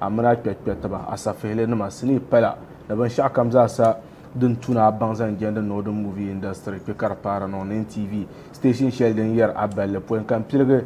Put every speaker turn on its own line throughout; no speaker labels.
Amina kpɛkpɛtiba, asafehilinima, sinii pala ni binshɛɣu kam zaa sa din tu ni a baŋ zaŋ jɛndi Northern Movie Industry kpe ka di paara niŋ NTV station shɛli din yɛri a balli pɔi ka m-piligi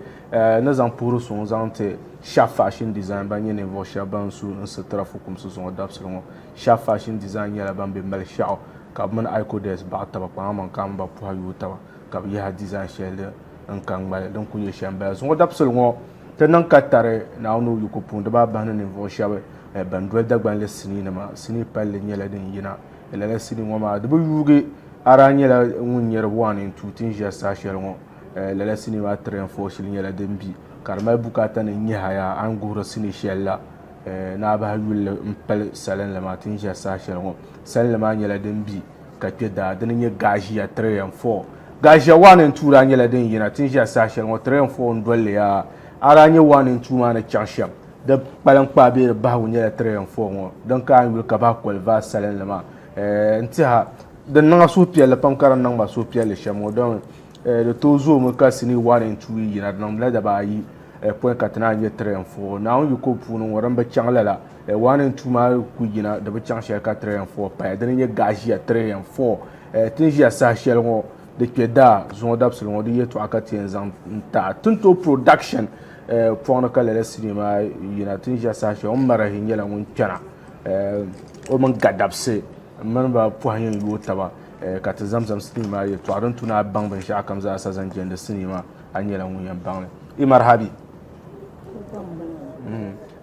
ni zaŋ puhiri suŋ zaŋ ti Sharp Fashion Design ban nyɛ ninvuɣ shɛba ban su n sitira fukumsi zuŋɔ dabisili ŋɔ. Sharp Fashion Design nyɛla ban be Malishɛɣu ka bɛ mini Icodes baɣi taba kpaŋa maŋ ka a mini ba puhi a yooi taba ka bɛ yahi a design shɛli din n ka ŋmali din ku nyɛ shɛm bala zuŋɔ dabisili ŋɔ ti niŋ ka tari Naawuni o yiko puuni di baa bahi ni ninvuɣu shɛba eh, ban doli Dagbanli sinii nima sinii palli nyɛla din yina eh, lala sinii ŋɔ maa di bi yuugi a daa nyɛla ŋun nyɛri buɣa ni n tuui ti ni ʒiɛri saha shɛli ŋɔ eh, lala sinii maa tiri n fɔɔ shili nyɛla din bi ka di mali bukaata ni n nyɛha yaa a ni guhiri sinii shɛli la eh, ni a bahi yulli n pali salinli maa ti ni ʒiɛri saha shɛli ŋɔ salinli maa nyɛla din bi ka kpe daa dini nyɛ Gaazhiya Train 4. Gaazhiya 1 and 2 daa nyɛla din yina ti ni ʒiya saha shɛli ŋɔ, Train 4 n-doli li yaa. A daa nyɛ 1 and 2 maa ni chaŋ shɛm, di kpaliŋkpaa bee di bahigu nyɛla Train 4 ŋɔ din ka a ni yuli ka bahi Kolivar salinli maa. Eh, n-tiha, di niŋ a suhupiɛlli pam ka di niŋ ma suhupiɛlli shɛm ŋɔ dɔmi eh, di tooi zoomi ka sinii 1 and 2 yi yina, di niŋdila dabaa ayi eh, pɔi ka ti naan nyɛ Train 4. Naawuni yiko puuni ŋɔ din bi chaŋ lala. Eh, one and two maa ku yina di bi chaŋ shɛli ka three and four paya dini nyɛ gaɣa ʒiya three and four eh, tin ʒiya saha shɛli ŋɔ di kpɛ daa zuŋɔ dabisili ŋɔ di yɛltɔɣa ka ti yɛn zaŋ n taɣa tinto production eh, pɔɣini ka lala sinii maa yina tin ʒiya saha shɛli ŋɔ marahi nyɛla ŋun kpɛna eh, o mini ga dabisi n mini ba pɔhi yɛn yooi taba eh, ka ti zamzam sinii maa yɛltɔɣa din tu ni a baŋ binshɛɣu kam zaa sa zaŋ jɛndi sinii maa a nyɛla ŋun yɛn baŋli i marahabi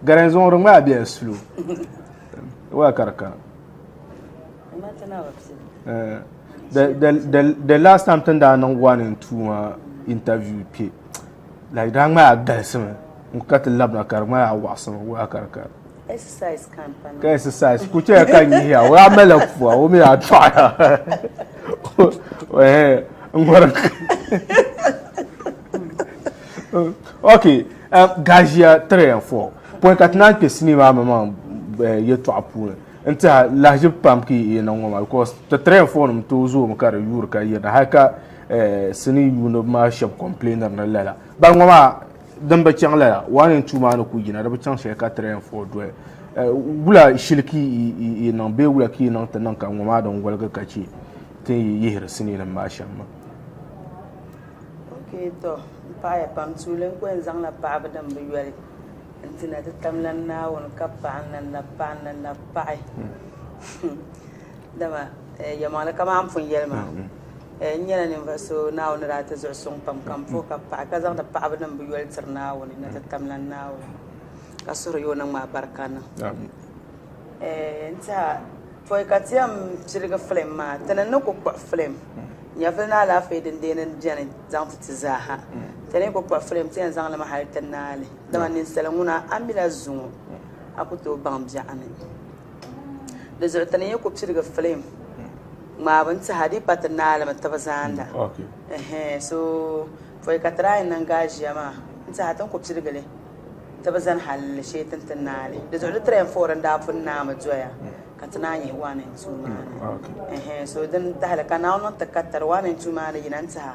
Garan zuŋuri ŋmaa bela sulu waa ka di kana eh, the, the, the, the last time tin daa niŋ one and two maa interview kpe like daa ŋmaa galisimi n ka ti labina ka di ŋmaa waɣasimi waa ka di kana
ka exercise ku chɛya
ka n yihiya o yaa mala pua o mi yaa tɔɣaya n ŋɔri ok gaaʒiya three and four pɔi ka ti naan kpɛ sinii maa maŋmaŋ yɛtɔɣa puuni n tiɛha lahaʒibu pam ka yi niŋ ŋɔ maa because ti three and four nim tooi zoomi ka di yuuri ka yirina hali ka sinii yuuniba maa shɛba complainiri ni lala bari ŋɔ maa Din bi chaŋ lala, waa ni n-tuui maa ni ku yina, di bi chaŋ shɛli ka tiri ya n-fui doli. Wula shili ka yi niŋ bee wula ka yi niŋ ti niŋ ka ŋɔ maa din woligi ka chɛ tin yi yihiri siniinim maa shɛm maa?
Okee tɔ, m paɣ ya pam, tuuli n ku yɛn zaŋla paɣibu din bi yoli n-ti na ti tamla n Naawuni, ka paɣi n-lan lahi paɣi n-lan lahi paɣi. Dama yɛlmaŋli kamani a ni pun yɛli maa, n nyɛla ninvuɣ so Naawuni ni daa ti zuɣu suŋ pam ka m puhi ka paɣi ka zaŋdi paɣibinim bɛ yoli tiri Naawuni ni ti tamlan Naawuni ka suhiri ya o niŋ maa barika niŋ. N tiha pɔi ka ti yɛn piligi filim maa, ti ni ni ku kpuɣi filim nyɛvili ni alaafee din deeni beni zaŋ ti ti zaaha. Ti ni ku kpuɣi filim ti yɛn zaŋ li mi hal ti naai li. Dama ninsal ŋuna a mila zuŋɔ a ku tooi baŋ biɛɣuni. Dizuɣu ti ni yi ku pirigi filim ŋmaabu n-ti Hadipa ti ni alimi tibu zaanda.
So
pɔi ka try n-niŋ gaaʒia maa n-ti ha ti ni ku pirigi li tibu zani hal li shee ti ni ti naali. Dizuɣu di train four n-daa pun naai mi doya ka ti naan yihi one and two maa ni.
So dini tahili
ka Naawuni niŋ ti ka tiri one and two maa ni yina n-ti ha.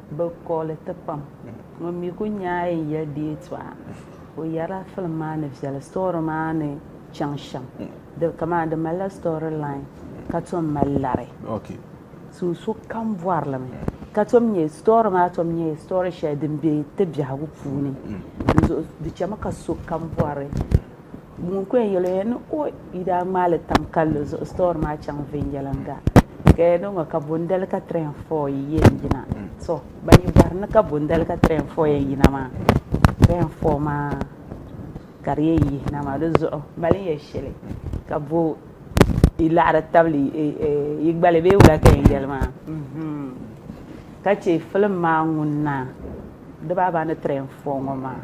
Bɛ kɔɣili ti pam. Ŋun mi ku nyaai n ya deei tɔha, o yɛrila filim maa ni viɛli story maa ni chaŋ shɛm. Di kaman di malila story line ka tom mali lari. So sokam bɔrilimi ka tom nyɛ story maa tom nyɛla story shɛli din be ti biɛhigu puuni. Di zuɣu di chɛmi ka sokam bɔri. Ŋun kɔya yɛli o ya ni o yi daa ŋmaai li tam kalli zuɣu store maa chaŋ viɛnyɛliŋga ka ya niŋɔ ka bondali ka three and four yi yɛn yina to ban yi bɔhiri ni ka bondali ka three and four yɛn yina maa three and four maa ka di yɛn yihi na maa di zuɣu mali ya shɛli ka bo yi laɣiri tabili yi gbali bee wula ka yɛn yɛli maa ka che film maa ŋun na. di baaba ni tiri n fɔɔ ŋɔ maa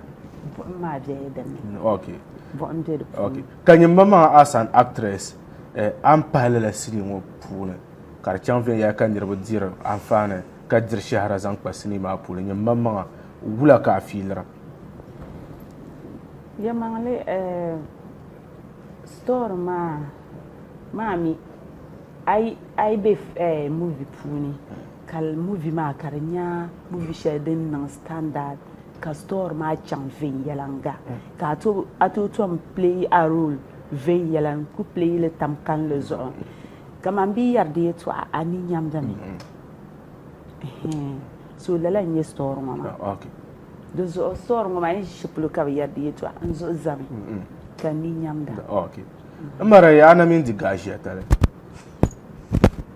buɣim maa bɛla din ni mm, okay. buɣim bɛ di puuni okay. ka nyimba maa as
an actress eh, a ni pahi lala sinii ŋɔ puuni ka di chaŋ viɛnyɛla ka niriba diri anfaani ka diri shahara zaŋ kpa sinii maa puuni nyimba maŋa wula ka a fiilira
yɛmaŋli eh, story maa maa mi a yi a yi bɛ eh, movie puuni Kali movie maa ka di nya movie shɛli din niŋ standard ka story maa chaŋ viɛnyɛliŋga ka a tooi tom play a role viɛnyɛla n ku play li tam kanli zuɣu kaman bɛ yɛri di yɛtɔɣa a ni nyamda mi so lala n nyɛ story ŋɔ maa di zuɣu story ŋɔ maa yi ʒi polo ka bi yɛri di yɛtɔɣa n zuɣu zami ka n ni nyamda. N mara
ya a na mini di gaashia tali.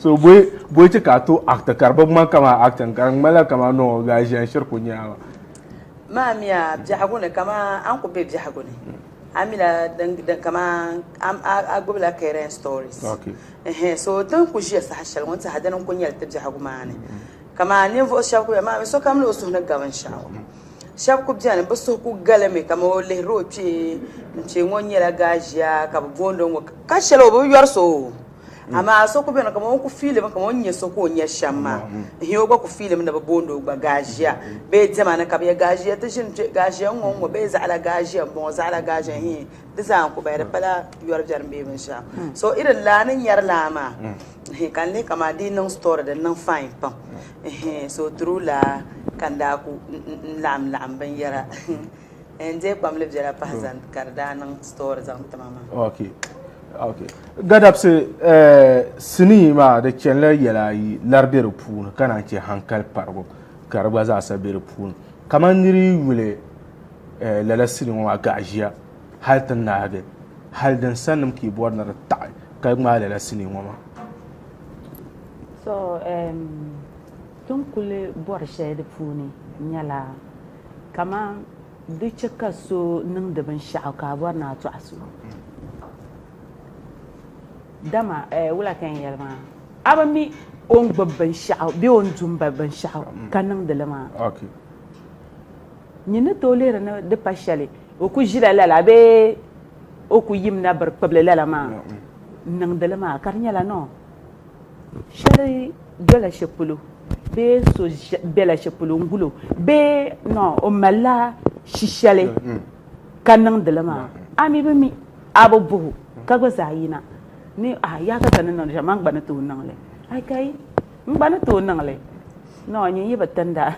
so boi ti ka to act ka bi ŋman kama acting ka ŋmala kama no gaa ʒiɛn shiri ku nyaama maa mi
a biɛhigu ni kama an ku be biɛhigu ni a mi la din kama a gbubi la current stories so tin ku ʒiya saha shɛli ŋun tiɛha dini n ku nyɛli ti biɛhigu maa ni kama ninvuɣu shɛba ku bɛ maa mi sokam ni o suhu ni ga binshaɣu Shɛba ku beni, bɛ suhu ku galimi ka ma o lihiri o kpee n-chɛ ŋɔ nyɛla Gaazhia ka bɛ booni o ŋɔ ka shɛli o bi yɔri so o. Amaa so ku beni kaman o ku fiilimi kaman o ni nya so ka o nya shɛm maa n-hɛ o gba ku fiilimi ni bɛ booni o gba Gaazhia. Bee diɛma ni ka bɛ yɛli Gaazhia ti ʒini kpe, Gaazhia n-ŋɔ n-ŋɔ bee zaɣila Gaazhia m-bɔŋɔ, zaɣila Gaazhia hii di zaa n-ku bahi di pala yɔri biɛrim bee binshɛɣu. So irin laa ni nyari laa maa hii ka n lihi kaman di yi niŋ story di niŋ fine pam. Ɛhɛɛn so o tiri o laa ka n daa ku n laɣim laɣim binyɛra n deei kpam li biɛla pahi zani ka di daa niŋ story zaŋ ti ma maa. Ok
ok Gadabsi sinii maa di chenila yɛla ayi lari be di puuni ka naan che hankali parigu ka di gba zaasa be di puuni kamani nir yi yuli lala sinii ŋɔ maa gaɣaʒiya hali ti nahigi hali din sannim keyboard ni di taɣi ka ŋmaai lala sinii ŋɔ maa. So
ti ni kuli bɔri shɛli di puuni nyɛla kamani di chɛ ka so niŋdi binshɛɣu ka a bɔri ni a tɔɣi so dama wula ka n yɛli maa a bi mi o ni gbubi binshɛɣu bee o ni du m-bahi binshɛɣu ka niŋdi li maa nyin ni tooi lihiri ni di pa shɛli o kuli ʒila lala bee O ku yim na biri kpibili lala maa niŋdi li maa ka di nyɛla nɔɔ shɛli dola shɛli polo bee so bela shɛli polo n gulo bee nɔɔ o malila shishɛli ka niŋdi li maa a mi bi mi a bi buhu ka gba zaa yina ni a yaa ka ka ni niŋdi shɛm man gba ni tooi niŋli a kai N gba ni tooi niŋ li. Noo nyin yi bi tin da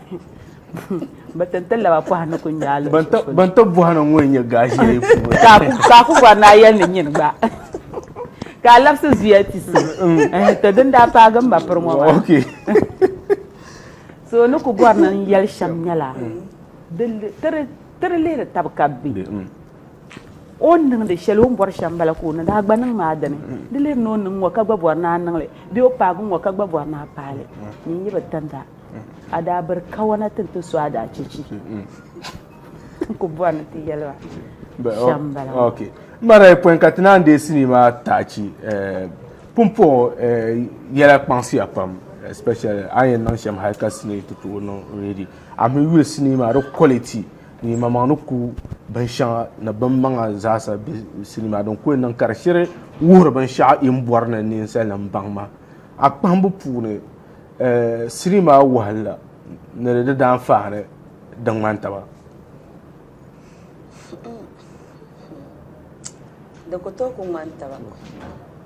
bi tin ti laba pɔha ni ku nyaa luɣi shɛli polo. Ban tɔb bɔha na
ŋɔ n-nyɛ gaʒee puuni. Ka a ku
bɔri ni a yɛli ni nyin gba ka a labisi zuya ti so. To din daa paagi m ma piri ŋɔ maa.
So
ni ku bɔri ni n yɛli shɛm nyɛla, ti di lihiri tab ka bɛ be. O ni niŋdi shɛli o ni bɔri shɛm bala ka o ni daa gba niŋ maa dini. Di leei ni o niŋ ŋɔ ka gba bɔri ni a niŋ li bee o paagi ŋɔ ka gba bɔri ni a paai li. Ni n yi bi tin da, a daa biri kawana ti ni ti so a daa chɛ chi. N ku bɔri ni ti yɛli ba shɛm bala. Mma
daa yi pɔi ka ti naan deei sinii maa taachi. Pumpɔŋɔ yɛla kpaŋsiya pam especially a ni yɛn niŋ shɛm hali ka sinii ti tooi niŋ ready. Amaa mi yuya sinii maa di quality. Nimaŋmaŋ ni ku binshɛŋa ni binmaŋa zaasa be sinima din kuli niŋ ka di shiri wuhiri binshɛɣu yi ni bɔri ni ninsalinim baŋ maa. A kpahimbu puuni, sinima wahinli ni di daanfaani din ŋmani taba?
Di ku tooi ku ŋmani taba.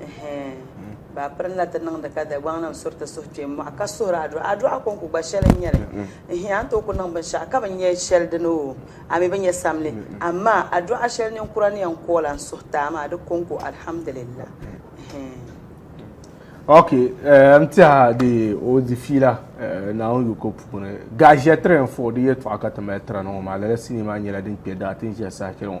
Ɛhɛɛn! Bɛ piri ni na ti niŋdi ka Dagbaŋnim suri ti suhu kpe m-mɔɣi ka suhiri adɔɣi. Adɔɣi kɔŋko gba shɛli n-nyɛ li. Ɛhɛɛn! A ni tooi ku niŋ binshɛɣu ka bi nya shɛli dini oo, a mi bi nya samli. Amaa adɔɣi shɛli ninkura ni yɛn kool a ni suhi ti a maa, di kɔŋko Alhamdulillah.
Ɛhɛɛn! Ok, n ti a di o di fiila Naawuni yiko puuni. Gaʒiya tiri n-fuɣi di yɛltɔɣa ka ti mali tiri a na ŋɔ maa, lala sinii maa nyɛla din kpe daa ti ni ʒiya saha shɛli ŋɔ.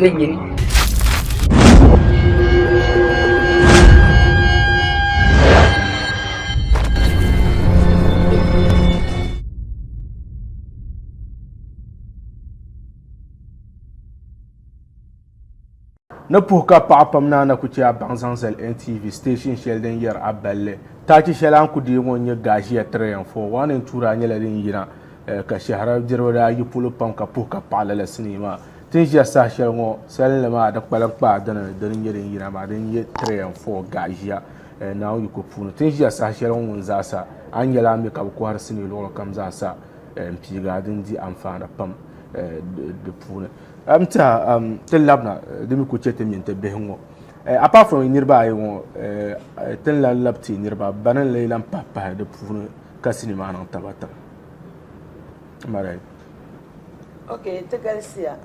ni nyini. Ni puhi ka paɣa pam na na ku chɛ a baŋ zaŋ zali NTV station shɛli din yɛri a balli. Taachi shɛli a ni ku deei ŋɔ n-nyɛ Gaazia 3 and 4. One and two daa nyɛla din yina eh, ka shɛhira diriba daa yi polo pam ka puhi ka paɣa lala sinii maa. Ti ni ʒiya saha shɛli ŋɔ salinli maa di kpalim kpaa dini dini nyɛ din yina maa din nyɛ three and four gaɣa ʒiya eh, Naawuni yiko puuni ti ni ʒiya saha shɛli ŋɔ ŋun zaa sa a ni nyɛla a mi ka bi kɔhiri sinii luɣuli kam zaa sa eh, n piiga din di anfaani pam eh, di puuni n tiɛha um, ti labina eh, di mi ku chɛ ti mini ti bihi ŋɔ Eh, apart from niriba ayi ŋɔ eh, eh, tin la lab ti niriba bani n lee lan pahi pahi di puuni ka sinima niŋ taba taba mara yi.
Ok ti galisiya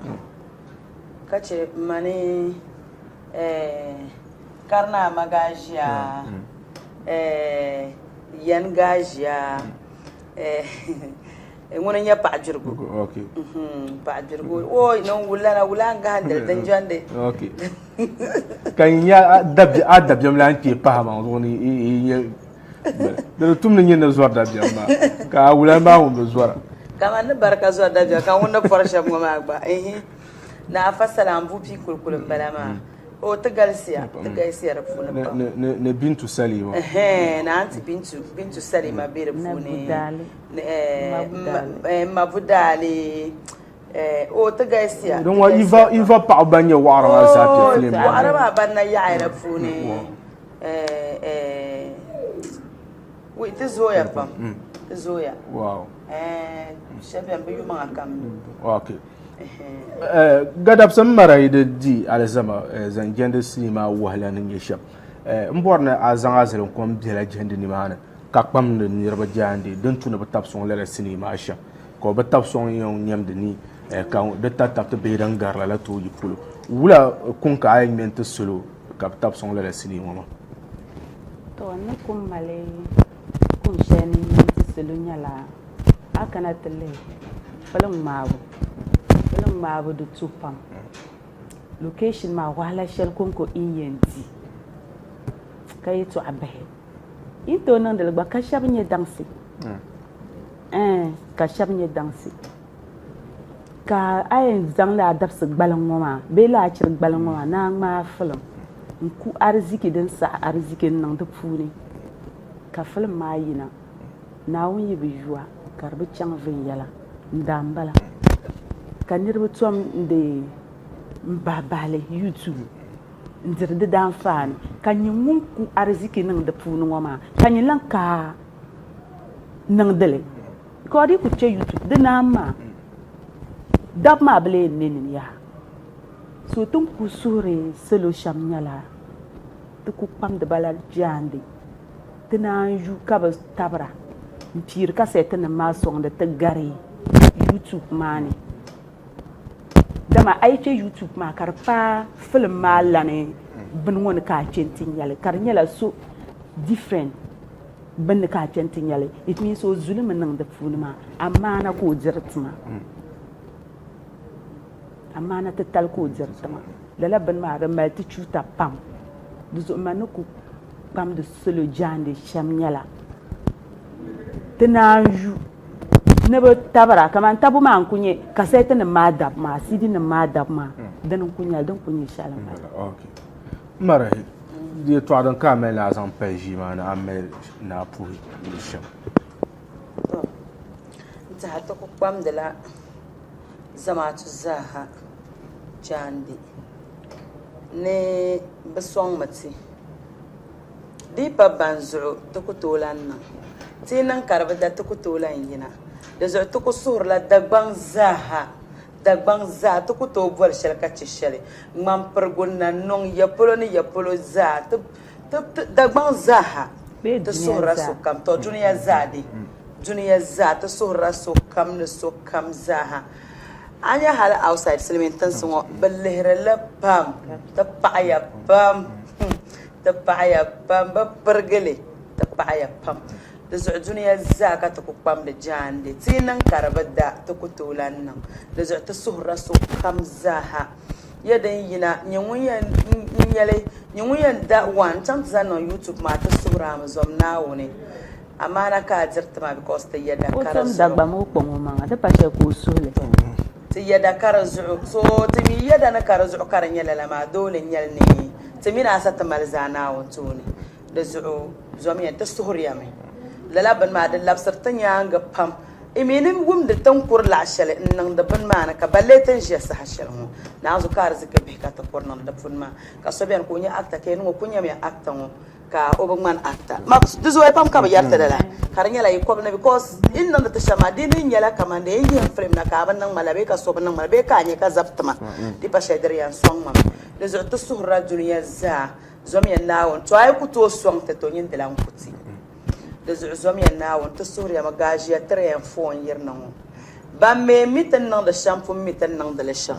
ka chɛ m ma ni Karinaa ma gaa ʒiya Yɛn gaa ʒiya ŋuni n-nyɛ Paɣa Jirigu
Paɣa
Jirigu ooy ni n wulila na wula n gahindili din jɛndi
ka n nya a dabiɛmlana kpee pahi maa zuɣu ni yi nyɛ Di ni tum ni nyɛ ni zɔri dabiɛm maa, ka a wula maa ŋun bi zɔra. Kaman ni bari ka
zɔri dabiɛm, ka ŋun ni pɔri shɛb ŋɔ maa gba. Ihi! Naa Fasala n bu pii kulikuli m-bala maa. Oo, ti galisiya, ti galisiya di puuni pam. Ni Bintu
Salima. Ɛhɛɛn, ni Anti
Bintu, Bintu Salima be di puuni. Ni Budaali. Ni ɛɛh, M-ma Budaali. O ti galisiya. Din ŋɔ iva iva
paɣaba ban nyɛ waɣara maa zaa piɛ filim maa. Waɣara maa ban na yaɣaya di puuni
wi ti zooya pam ti zooya. Wow.
Shɛba bɛni bi
yumaŋa kam. Okay.
Gadabsim mara yi di di alizama zaŋ jɛndi sinii maa wahala ni nyɛ shɛm n bɔri ni a zaŋ a zilinkom biɛla jɛndi nimaani ka kpamdi niriba jaandee din tu ni bi tabi sɔŋ lala sinii maa shɛm. ka o bi tab sɔŋ n yɛn nyɛmdi ni ka di ta tabiti bihi din gari lala tooi yi polo. Wula kuŋ ka a yɛn ŋmɛ n-ti salo ka bi tab sɔŋ lala sinii ŋɔ maa? Tɔ,
n ni kum mali kum shɛli ni ŋmɛ n-ti salo nyɛla, a kana ti lihi filiŋ ŋmaabu. Filiŋ ŋmaabu di tu pam. Location maa wahala shɛli ko n-ko i ni yɛn di ka yɛtɔɣ bihi. Yi tooi niŋdili gba ka shɛba nyɛ daŋsi. Ɛɛn, ka shɛba nyɛ daŋsi. Ka a yɛn zaŋ laa dabisi gbaliŋ ŋɔ maa bee laachiri gbaliŋ ŋɔ maa ni a ŋmaai filim n-ku ariziki din saɣi ariziki n-niŋ di puuni, ka filim maa yina, Naawuni yi bi yu a, ka di bi chaŋ viɛnyɛla, n-daa m-bala ka niriba tom n-deei m-bahi bahi li YouTube. n-diri di daanfaani, ka nyɛ ŋun ku ariziki niŋ di puuni ŋɔ maa, ka nyɛ lan kaai niŋdi li. Ka di ku chɛ YouTube di naan maa, dab maa bi lee ne nim yaha. So ti ni ku suhiri salo shɛm nyɛla ti ku kpamdi ba la jaande. Ti naan yu ka bi tabira m-piiri kasɛtinim maa sɔŋdi ti gari YouTube maa ni. Dama a yi chɛ YouTube maa ka di paai film maa lani bini ŋɔ ni ka a chɛ nti nyɛli ka di nyɛla so different bini ni ka a chɛ nti nyɛli it means o zuli mi niŋ di puuni maa amaana ka o diri tima amaana titali ka o diri tima lala bini maa di mali ti chuuta pam di zuɣu ma ni ku kpamdi salo jaande shɛm nyɛla Ti naanzu ni bi tabira kamani tabu maa n ku nyɛ kasɛt nim maa dabu maa CD nim maa dabu maa dini n ku nyɛli din ku nyɛ shɛli n bala. Ok. N
mari yɛltɔɣa din ka a mali ni a zaŋ pali ʒii maa ni a ni mali ni a puhi luɣu shɛm. Tɔ,
n tiɛha ti ku kpamdila zamaatu zaaha jaande ni bɛ sɔŋmi ti. Di yi pa ban zuɣu ti ku tooi lan niŋ ti yi niŋ ka di bi da ti ku tooi lan yina. Di zuɣu ti ku suhirila Dagbaŋ zaaha. Dagbaŋ zaa ti ku tooi boli shɛli ka chɛ shɛli. Ŋmampirigu na niŋ ya polo ni ya polo zaa ti ti ti Dagbaŋ zaaha ti suhirila sokam. Tɔ dunia zaa de? Dunia zaa ti suhirila sokam ni sokam zaaha. A nya hali outside silimiin tinsi ŋɔ bɛ lihiri li pam ti paɣiya pam. Hum! ti paɣiya ban bi pirigi li ti paɣiya pam. Di zuɣu dunia zaa ka ti ku kpamdi jaande. Ti yi niŋ ka di bi da, ti ku tooi lan niŋ. Di zuɣu ti suhirila sokam zaaha. Ya din yina, nyɛ ŋun yɛn nyɛli, nyɛ ŋun yɛn da waa n-chaŋ ti zaŋ niŋ YouTube maa ti suhir a mi zom Naawuni. Amaana ka a diri ti ma because ti ya dakara zuɣu. O tom Dagbamba o kpaŋ omaŋa,
di pa shɛli ka o suhi li. Ti yɛda
ka di zuɣu, so ti mi yɛda ni ka di zuɣu ka di nyɛ lala maa, doo ni nyɛli ni ti mi ni a sa ti mali zaa Naawuni tooni. Di zuɣu zɔmiya ti suhiriya mi lala bini maa, di labisiri ti nyaaŋa pam. N mi ni wumdi ti ni kuri laɣ shɛli n-niŋdi bini maa ni, ka ballee ti ni ʒiya saha shɛli ŋɔ. Naanzu ka ariziki bihi ka ti kuri niŋdi di puuni maa, ka so beni ka o nyɛ actor ka yɛli ni ŋɔ kuli nyamiya actor ŋɔ. ka o bi ŋmani actor ma di zooya pam ka bi yɛriti di la ka di nyɛla yi kɔbi ni because yi ni niŋdi ti shɛm maa di ni nyɛla kaman dee n yihim film na ka a bi niŋ ma la bee ka so bi niŋ ma la bee ka a nya ka zabi ti ma di pa shɛli di di yɛn sɔŋ ma mi di zuɣu ti suhirila dunia zaa zɔmiya Naawuni to a yi ku tooi sɔŋ ti to nyin di lan ku ti di zuɣu zɔmiya Naawuni ti suhiriya mi gaa ʒiya tiri ya n foon yirina ŋɔ ban mi mi ti ni niŋdi shɛm pun mi ti ni niŋdi li shɛm.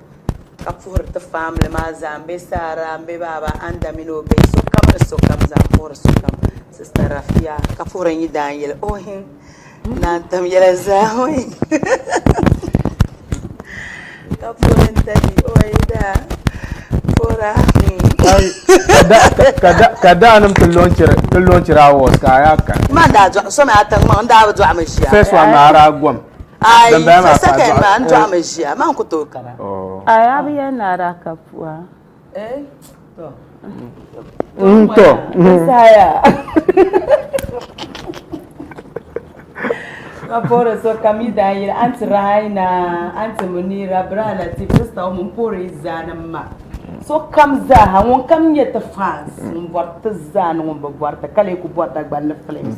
ka puhiri ti family maa zaa m be Sarah m be baaba Anda mini o bihi sokam ni sokam zaa m puhiri sokam sista Rafia ka puhiri n yi daa yeli ohin naa n tam yela zaa ohin ka puhiri n tani o yi daa puhira ka daa nim
ti lɔnchiri awards ka a yaa kan maa daa dɔɣi so mi a
tiŋ maŋ n daa bi dɔɣi mi ʒiya first one maa ara gom
Ayi,
so second maa n dɔɣi mi ʒiya maa n ku tooi kana.
Ayi
a bi yɛn
naai daa
ka
pua. Eh, to. N
to. Saya. Ka pɔri so ka mi daa yiri anti Raina, anti Munira, bra Latif, sista o mini pɔri zaa ni ma. Sokam zaa ha ŋun kam nyɛ ti fans ŋun bɔri ti zaa ni ŋun bi bɔri ti ka lee ku bɔri Dagbani ni films.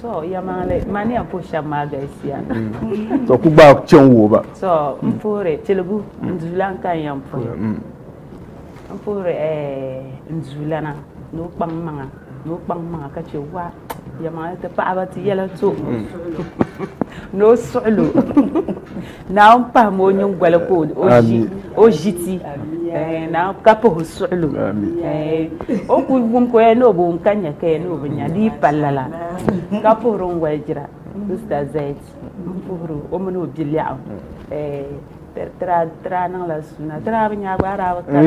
To
yamaŋli mania po shɛba maa galisiya. To ku
gbaai kpɛ n-wuhi ba. To n puhiri
tiligu n duulana ka n yɛn puhi. N puhiri n duulana ni o kpaŋ maŋa ni o kpaŋ maŋa ka chɛ waa yamaŋli ti paɣaba ti yɛla to ni o suɣilo. Naawuni pahim o nyingoli ka o ʒi ti ka pah o suɣili o ku wum ka o yɛli ni o bi wum ka nya ka yɛli ni o bi nya di yi pali lala ka puhiri n walijira sista zayiti m puhiri o mini o biɛlɛɣu ti daa niŋla suuna ti daa bi nya gbaai daa bi kani.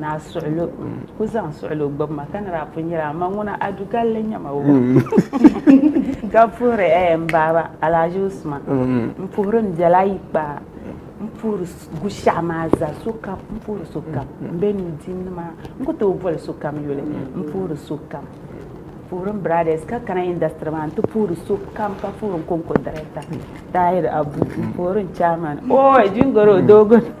Naa suɣilo ku zaŋ suɣilo gbubi ma ka ni daa pun nyɛla ma ŋuna a dugalli nyɛ ma o ka puhiri eh m baaba Alhaji Usman m puhiri m biɛla ayi kpaa m puhiri Gushaɣu maa zaa sokam m puhiri sokam m be nuudini maa n ku tooi boli sokam yuli m puhiri sokam m puhiri m biraadɛs ka kana indasitiri maa n ti puhiri sokam ka puhiri n kɔŋko dirɛkta Tahir Abu m puhiri n chaamani ooy Jingɔro doogi ni.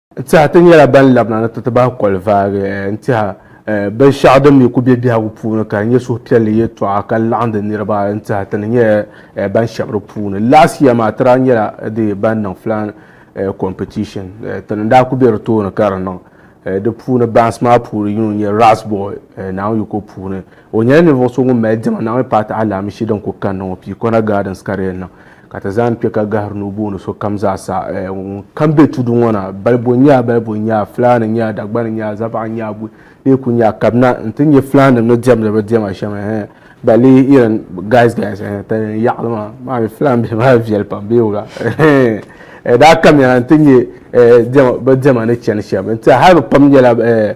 Tɛha ti nyɛla
ban labina ni ti ti bahi kɔli vaagi n-tɛha binshɛɣu din mi ku be biɛhigu puuni ka nyɛ suhupiɛlli yɛtɔɣa ka laɣindi niriba n-tɛha ti ni nyɛla ban shɛbi di puuni. Last year maa ti daa nyɛla di ban niŋ flying competition. Ti ni daa ku be di tooni ka di niŋ. Di puuni bansi maa puuni yino n-nyɛ Ras Boy Naawuni Yiko puuni. O nyɛla ninvuɣ so ŋun mali diɛma Naawuni Paati alaamishi din ku kanna ŋɔ Piikona Gardens ka di yɛn niŋ. Ka ti zaan kpe ka gahiri ni o booni sokam zaa sa, ŋunkam be tudu ŋɔ na, balibo n-nyɛ balibo n-nyɛ Fulani n-nyɛ Dagbani n-nyɛ Zavaɣa n-nyɛ Abui bee ku nyɛ ka bɛ na nti nyɛ Fulaninim ni diɛmdi bɛ diɛma shɛm ɛɛh ba lee irin guys guys ɛɛh ti ni yaɣili maa maa mi Fulani bihi maa viɛli pam bee wuga ɛɛh daa kamiya nti nyɛ ɛɛh bɛ diɛma ni chani shɛm n-tiɛha hali bɛ pam nyɛla ɛɛh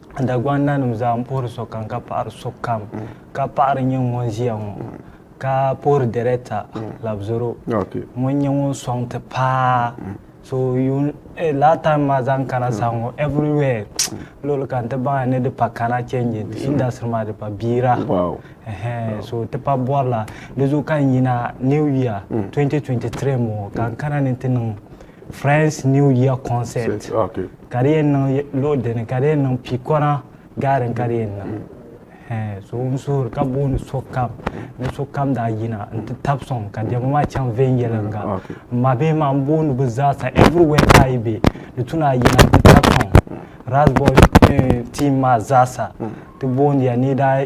Dagbaŋ nanim zaa n puhiri sokam ka paɣiri sokam ka paɣiri nyɛ ŋun ʒiya ŋɔ ka puhiri dɛrɛkta labzoro ŋun nyɛ ŋun sɔŋ ti paa so eh, last time maa zaŋ kana sa ŋɔ everywhere luɣuli kam ti baŋya ni di pa kana changing ti industry maa di pa biira so ti pa bɔrila di zuɣu ka n yina new year 2023 mm. ŋɔ ka n kana ni ti niŋ friends new year concert ka di yɛn niŋ luɣu dini ka di yɛn niŋ pii kɔna gaarin ka di yɛn niŋ hɛn so n suhuri ka booni sokam ni sokam daa yina n ti tabi sɔŋ ka diɛma maa chaŋ viɛnyɛliŋga n ma bihi maa n booni bi zaasa everywhere ka yi bɛ di tuna a yina n ti tabi sɔŋ rasbol team maa zaasa ti boondiya ni daa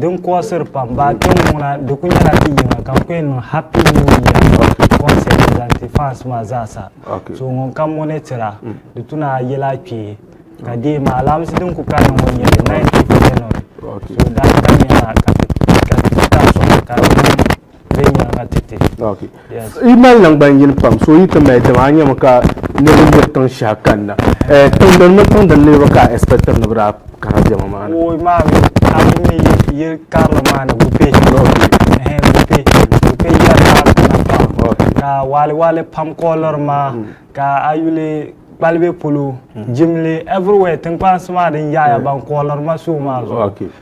Din kuɣisiri pam baa kpɛm ŋuna di ku nyɛla ti yiŋa ka ku niŋ happy new year concert zaŋ ti fans maa zaa sa so ŋun kam ŋɔ ni tira di tuna yɛla kpee ka dee maa alaamisi din ku kanna ŋɔ nyɛli 9th of January so daa ka nyɛla ka ti ka sɔŋ ka di viɛnyɛliŋga
ti ti. Okay. Yes. Yi mali nangban yini pam so yi ti mali dama a nyɛmi ka niriba yiri tiŋ shɛhi kanna. Eh, tiŋdini mini tiŋdini niriba ka a expectiri ni bɛ daa kana diɛma maa ni. Woi maa mi
a yi mi yili karili maa ni gupe. Ehe gupe gupe yiya daa kana pam ka waɣili waɣili pam kooliri maa mm. ka a yuli kpalibe polo mm. jimli everywhere tinkpansi maa din yaɣaya eh. ban kooliri ma suhu maa zuɣu.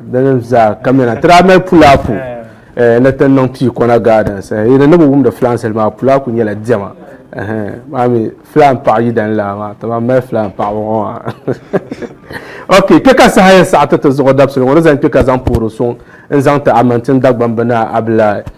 Dini zaa ka mɛna ti daa mali pulaapu ni ti niŋ pii kɔna gardens yi ni ni bi wumdi filaan sali maa pulaapu nyɛla diɛma maa mi filaan paɣa yidani laa maa ti ban mali filaan paɣaba ŋɔ maa ok kpɛ ka saha yɛn saɣiti ti zuɣu dabisili ŋɔ ni zaŋ kpɛ ka zaŋ poori suŋ n zaŋ ti Amantin Dagbamb Naa Abilaai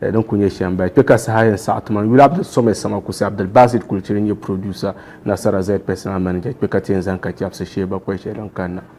Eh, din ku nyɛ shɛm baya kpɛ ka saha yɛn saɣi tuma yuli abdul sɔmɛ sama kusi abdul basit kulichiri n-nyɛ producer nasara zed personal manager kpɛ ka ti yɛn zani ka chɛbisi sheeba kpɛli shɛli din kanna